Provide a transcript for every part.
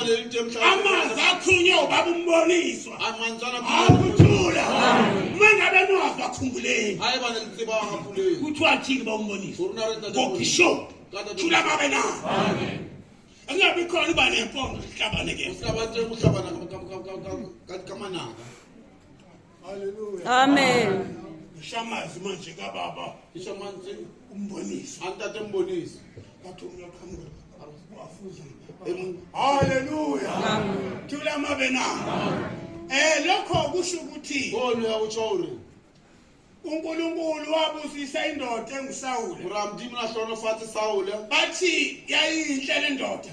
amanzi athunywe ubaba umboniswa akuthula uma ngabe niwava khumbuleni kuthiwa thini ba umboniswa kokisho thula babe na angabi khona uba nempondo sihlabane ke Amen. Ngishamazwi manje kababa. Ngishamazwi umbonisi. Antate mbonisi. Kathi uyaqhamuka. Wafuza. Hallelujah. Amen. Thula mabe na. Eh lokho kusho ukuthi. Ngoni yakuchori. uNkulunkulu wabusisa indoda enguSawule. Uramdimu na hlono fati Sawule. Bathi yayinhle le ndoda.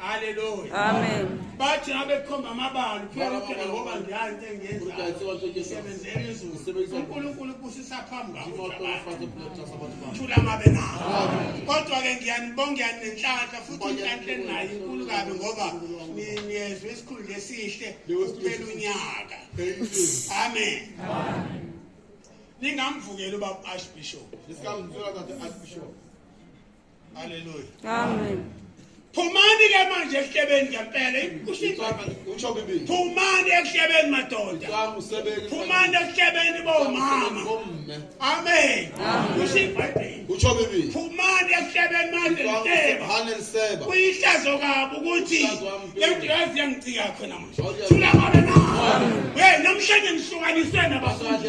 Hallelujah. Amen. Bathi abekhomba amabala phela phela ngoba ngiyazi into engiyenzayo. Isebenzele izulu. UNkulunkulu ubusisa phambi kwakho. Thula mabe nawo. Kodwa ke ngiyanibonga ngiyanenhlanhla futhi inhlanhla enayo inkulu kabi ngoba niyezwe isikhulu lesihle kuphela unyaka. Amen. Amen. Ningamvukela ubaba Archbishop. Nisamvukela kathi Archbishop. Haleluya. Amen. Phumani ke manje ehlebeni ngempela. Usho bibi. Phumani ehlebeni madoda. Phumani ehlebeni bomama. Amen. Usho iBhayibheli. Usho bibi. Phumani ehlebeni manje nteba. Haleluya. Kuyihlazo kabi ukuthi lento yazi yangicika yakho namanje. Thula ngabe na. Hey namhlanje ngihlukaniswe nabafundi.